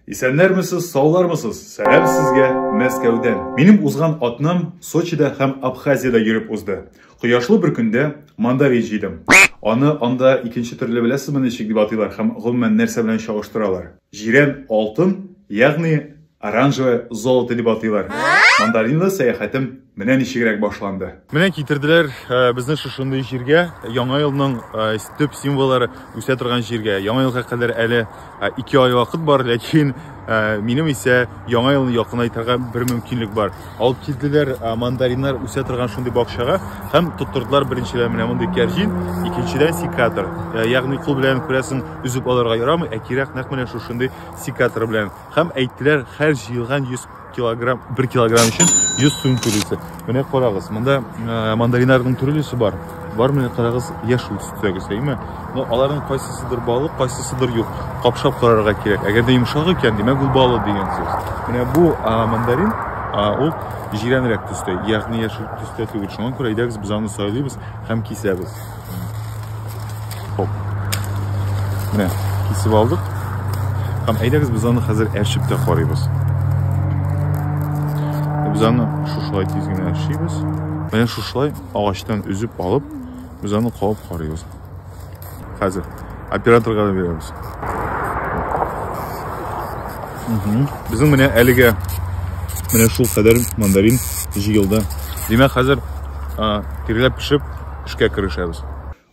Исәннәрмесез, саулармысыз? Сәлам сезгә Мәскәүдән. Минем узган атнам Сочида һәм Абхазиядә йөреп узды. Кояшлы бер көндә мандарин җыйдым. Аны анда икенче төрле беләсезме ничек дип атыйлар һәм гомумән нәрсә белән чагыштыралар? Җирән алтын, ягъни оранжевое золото дип атыйлар. Мандаринлы сәяхәтем Менә ничегрәк башланды. Менә китерделәр э, безне шушындый җиргә, яңа елның э, төп символлары үсә торган җиргә. Яңа елга кадәр әле 2 э, ай вакыт бар, ләкин минем исә яңа елны якынайтырга бер мөмкинлек бар. Алып килделәр мандариннар үсә торган шундый бакчага һәм тоттырдылар беренчедән менә мондый кәрҗин, икенчедән секатор. Ягъни кул белән күрәсең, үзеп алырга ярамый, ә кирәк нәкъ менә шушындый секатор белән. Һәм әйттеләр, һәр җыелган 100 килограмм бер килограмм өчен 100 сум түлисе менә карагыз монда э, мандариннарның төрлесе бар бар менә карагыз яшел төстәге сәйме но аларның кайсысыдыр балык кайсысыдыр юк капшап карарга кирәк әгәр дә йомшак икән димәк ул балык дигән сүз менә бу мандарин ул җирәнрәк төстә ягъни яшел төстә түгел шуңа күрә әйдәгез без аны сайлыйбыз һәм кисәбез Хоп. Менә кисеп алдык. Һәм әйдәгез без аны хәзер әрчеп тә карыйбыз. Без аны шушылай тиз генә әрчибез. Менә шушылай агачтан үзеп алып, без аны кабып карыйбыз. Хәзер операторга да бирәбез. Безнең менә әлегә менә шул кадәр мандарин җыелды. Димәк, хәзер тиреләп пешеп эшкә керешәбез.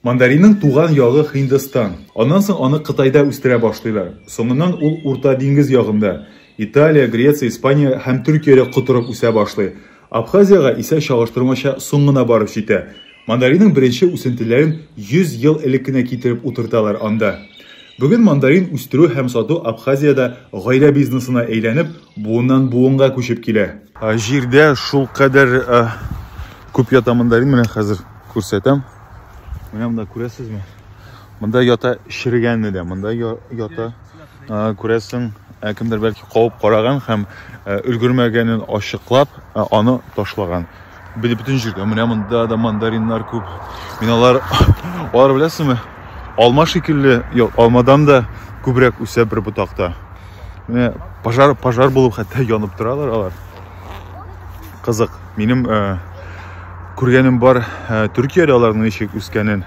Мандаринның туган ягы Һиндстан. Аннан соң аны Кытайда үстерә башлыйлар. Соңыннан ул Урта диңгез ягында, Италия, Греция, Испания һәм Төркиядә котырып үсә башлый. Абхазиягә исә чагыштырмача соң гына барып җитә. Мандаринның беренче үсентеләрен 100 ел элек кенә китереп утырталар анда. Бүген мандарин үстерү һәм сату Абхазиядә гаилә бизнесына әйләнеп, буыннан-буынга күчеп килә. Җирдә шулкадәр күп ята мандарин, менә хәзер күрсәтәм. Менә монда күрәсезме? Монда ята черегәне дә, монда ята. күрәсең ә кемдер бәлки кабып караган һәм ә, өлгермәгәнен ачыклап ә, аны ташлаган бит бөтен җирдә менә монда да мандариннар күп мин алар алар беләсеңме алма шикелле юк алмадан да күбрәк үсә бер ботакта менә пожар пожар булып хәтта янып торалар алар кызык минем ә, күргәнем бар ә, төркиядә аларның ничек үскәнен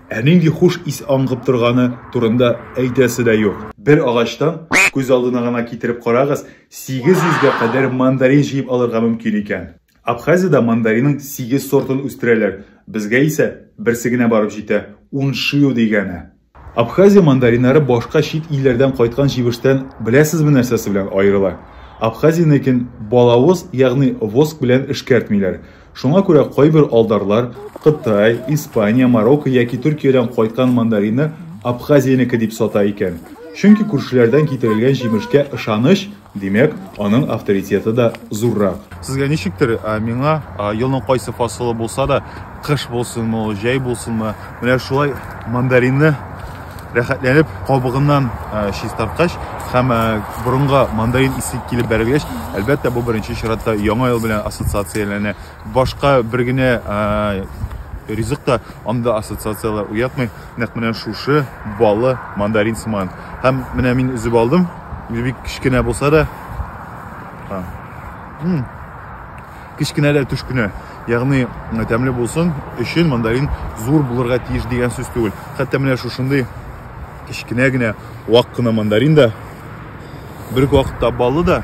Ә нинди хуш ис аңгып торганы турында әйтәсе дә юк. Бер агачтан, күз алдына гына китереп карагыз, 800 гә кадәр мандарин җыеп алырга мөмкин икән. Абхазиядә мандаринның сигез сортын үстерәләр, безгә исә берсе генә барып җитә, уншио дигәне. Абхазия мандариннары башка чит илләрдән кайткан җимештән беләсезме нәрсәсе белән аерыла? Абхазиянекен балавыз, ягъни воск белән эшкәртмиләр. Шуңа күрә кайбер алдарлар Кытай, Испания, Марокко яки Төркиядән кайткан мандаринны Абхазиянеке дип сата икән. Чөнки күршеләрдән китерелгән җимешкә ышаныч, димәк, аның авторитеты да зуррак. Сезгә ничектер, ә миңа, елның кайсы фасылы булса да, кыш булсынмы ул, җәй булсынмы, Менә шулай мандаринны рәхәтләнеп кабыгыннан чистарткач һәм борынга мандарин исе килеп бәрелгәч, әлбәттә, бу беренче чиратта яңа ел белән ассоциацияләнә. Башка бер генә ризык та анда ассоциацияләр уятмый. Нәкъ менә шушы балы мандарин сыман. Һәм менә мин өзеп алдым. Бик кечкенә булса да. Кечкенә дә төш кенә, ягъни тәмле булсын өчен мандарин зур булырга тиеш дигән сүз түгел. Хәтта менә шушындый кечкенә генә вак кына мандарин да бер вакытта баллы да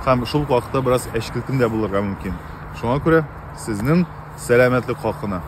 һәм шул вакытта бераз әчкелтем дә булырга мөмкин. Шуңа күрә сезнең сәламәтлек хакына.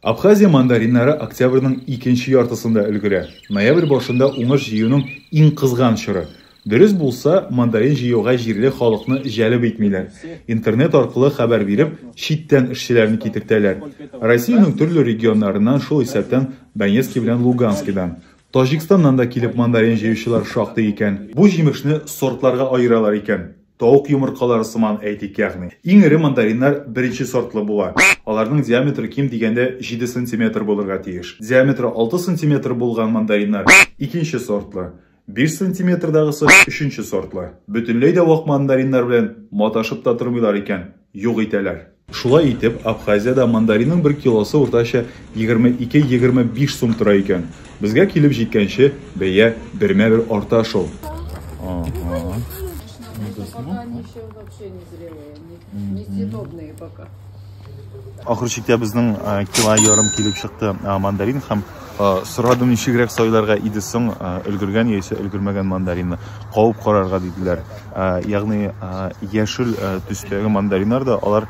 Абхазия мандариннары октябрьнең икенче яртысында өлгерә. Ноябрь башында уңыш җыюның иң кызган чоры. Дөрес булса, мандарин җыюга җирле халыкны җәлеп итмиләр, интернет аркылы хәбәр биреп, читтән эшчеләрне китертәләр. Россиянең төрле регионнарыннан, шул исәптән Донецки белән Луганскидан, Таҗикстаннан да килеп мандарин җыючылар шактый икән. Бу җимешне сортларга аералар икән, тавык йомыркалары сыман, әйтик, ягъни. Иң эре мандариннар беренче сортлы була. Аларның диаметры ким дигәндә җиде сантиметр булырга тиеш. Диаметры алты сантиметр булган мандариннар, икенче сортлы. 5 сантиметрдагысы өченче сортлы. Бөтенләй дә вак мандариннар белән маташып та тормыйлар икән, юк итәләр. Шулай итеп, Абхазиядә мандаринның бер килосы уртача 22-25 сум тора икән. Безгә килеп җиткәнче, бәя бермә-бер арта шул. Ага. Несъедобные пока. Ахыр чиктә безнең э, кило ярым килеп чыкты э, мандарин һәм э, сорадым ничегрәк сайларга иде соң өлгергән яисә өлгермәгән мандаринны кавып карарга диделәр. Ягъни яшел төстәге мандариннар да алар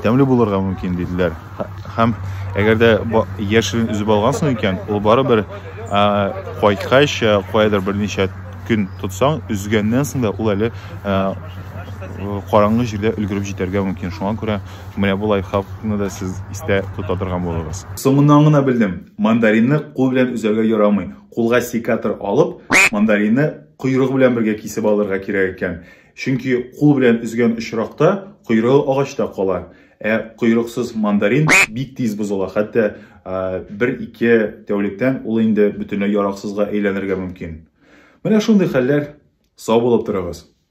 тәмле булырга мөмкин диделәр. Һәм әгәр дә яшелен өзеп алгансың икән, ул барыбер кайткач каядыр берничә Көн тотсаң, өзгәннән соң да ул әле караңгы җирдә өлгереп җитәргә мөмкин. Шуңа күрә менә бу лайфхакны да сез истә тота торган булыгыз. Соңыннан гына белдем, мандаринны кул белән өзәргә ярамый. Кулга секатор алып, мандаринны койрыгы белән бергә кисеп алырга кирәк икән. Чөнки кул белән өзгән очракта, койрыгы агачта кала. Ә койрыксыз мандарин бик тиз бозыла, хәтта бер-ике тәүлектән ул инде бөтенләй яраксызга әйләнергә мөмкин. Менә шундый хәлләр, сау булып торыгыз!